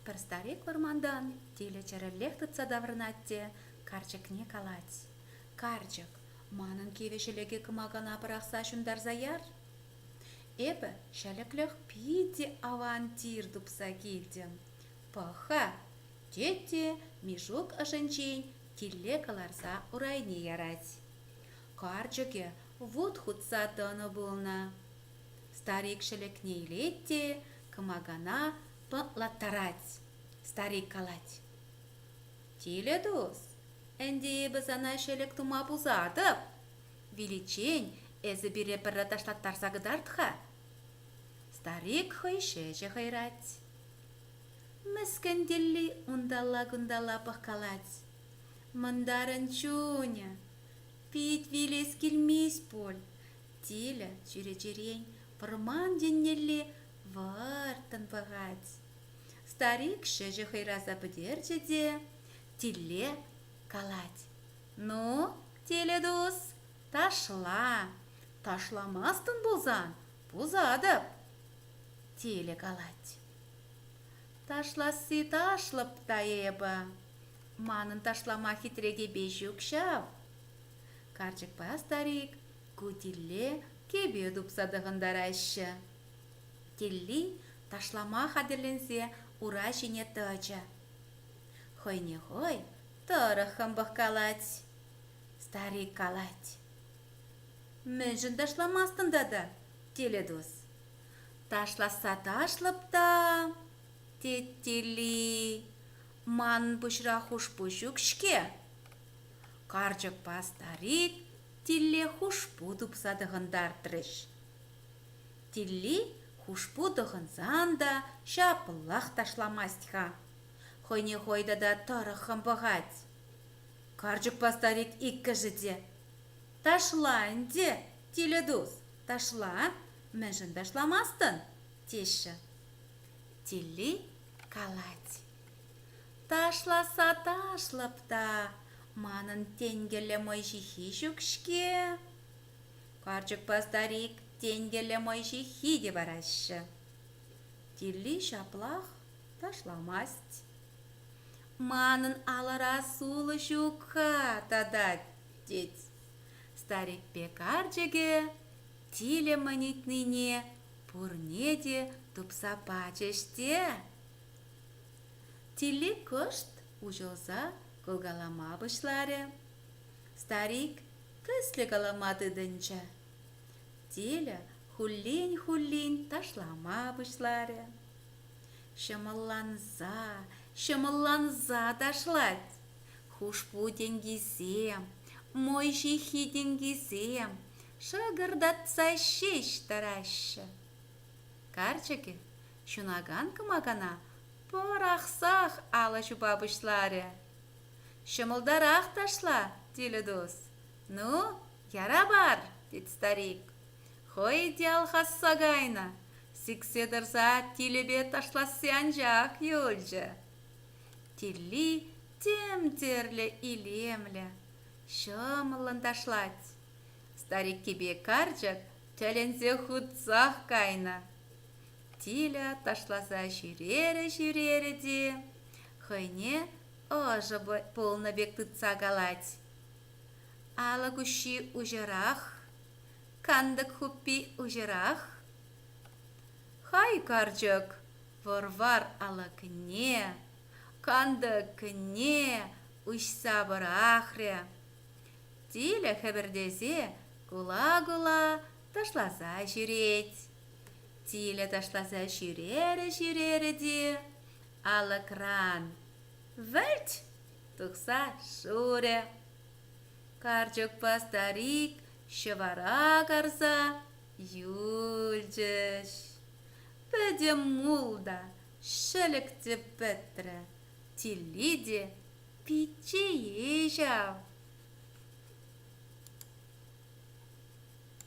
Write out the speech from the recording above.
Пӗр старик вӑрмантан тилӗ чӗрӗллех тытса таврӑнать те карчӑкне калать: «Карчӑк, манӑн кивӗ ҫӗлӗке кӑмакана пӑрахса ҫунтарса яр. Эпӗ ҫӗлӗклӗх питӗ аван тир тупса килтӗм. Пӑх-ха!» тет те Мишук ӑшӗнчен тилле кӑларса урайне ярать. Карчӑкӗ вут хутса тӑнӑ пулнӑ. Старик ҫӗлӗкне илет те кӑмакана тӑнлаттарать. Старик калать. Тилӗ-тус, ӗнтӗ эпӗ сана ҫӗлӗк тума пусатӑп. Виличчен эсӗ пире пӗрре ташлаттарса кӑтарт-ха. Старик хӑй ҫӗҫӗ хӑйрать. Мӗскӗн тилли унталла-кунталла пӑхкалать. Мӑнтарӑн чунӗ, Пит вилес килмест пуль, тилӗ чӳречерен вӑрман еннелле вӑрттӑн пӑхать. Старик ҫӗҫӗ хӑйраса пӗтерчӗ те тиле калать: «Ну, тилӗ-тус, ташла, ташламастӑн пулсан пусатӑп!» Тилӗ калать: «Ташласси ташлӑп та эпӗ, Манӑн ташлама хитрекепе ҫук ҫав. Карчӑкпа старик Кутилле кӗпе тупса тӑхӑнтараҫҫӗ. Тилли ташлама хатӗрленсе ура ҫине тӑчӗ. Хӑйне хӑй тӑрӑххӑн пӑхкалать. Старик калать. Мӗншӗн ташламастӑн тата, Теледос? Ташласса ташлӑп та... тет Тилли. Манӑн пуҫра хушпу ҫук-ҫке. Карчӑкпа старик Тилле хушпу тупса тӑхӑнтартрӗҫ. Тилли хушпу тӑхӑнсан та ҫаплах ташламасть-ха. Хӑйне хӑй тата тӑрӑххӑн пӑхать. Карчӑкпа старик иккӗшӗ те. Ташла ӗнтӗ, Тилӗтус, ташла, мӗншӗн ташламастӑн? теҫҫӗ. Тилли калать: «Ташласа ташлӑп та, манӑн тенкӗллӗ мӑй ҫыххи ҫук-ҫке». Карчӑкпа старик тенкӗллӗ мӑй ҫыххи те параҫҫӗ. Тилли ҫаплах ташламасть. «Манӑн алӑра сулӑ ҫук-ха татать», – тет. Старикпе карчӑкӗ тилӗ мӑн ыйтнине Пурне те тупса пачӗҫ те. Тилли кӑшт уҫӑлса кӑлкалама пуҫларӗ. Старик тӗслӗ калама тытӑнчӗ. Тиля хуллин-хуллин ташлама пуҫларӗ. Ҫӑмӑлланса, ҫӑмӑлланса ташлать. Хушпу тенкисем, мой ҫыххи тенкисем, Шӑкӑртатса ҫеҫ тӑраҫҫӗ. Карчӑкӗ ҫунакан кӑмакана пӑрахсах алӑ ҫупа пуҫларӗ. «Ҫӑмӑлтарах ташла, Тилӗдус. Ну, яра пар!» тет старик. «Хӑй те алхасса кайнӑ, сиксе тӑрса Тилӗпе ташласси анчах юлчӗ». Тилли тем тӗрлӗ илемлӗ, ҫӑмӑллӑн ташлать. Стариккипе карчӑк тӗлӗнсе хутсах кайнӑ. Тиля ташласа ҫӳрерӗ-ҫӳрерӗ те хӑйне ӑшӑ пулнӑ пек тытса калать. Алӑк уҫҫи уҫӑрах, кантӑк хуппи уҫӑрах. Хай карчӑк вӑр-вар алӑкне, кантӑкне уҫса пӑрахрӗ. тилӗ хӗпӗртесе кула-кула ташласа ҫӳрет. Тилӗ ташласа ҫӳрерӗ-ҫӳрерӗ те алӑкран вӗлт! тухса шурӗ. Карчӑкпа старик ҫӑвара карса юлчӗҫ. Пӗтӗм мул та ҫӗлӗк те пӗтрӗ, тилли те Пичче-и ҫав?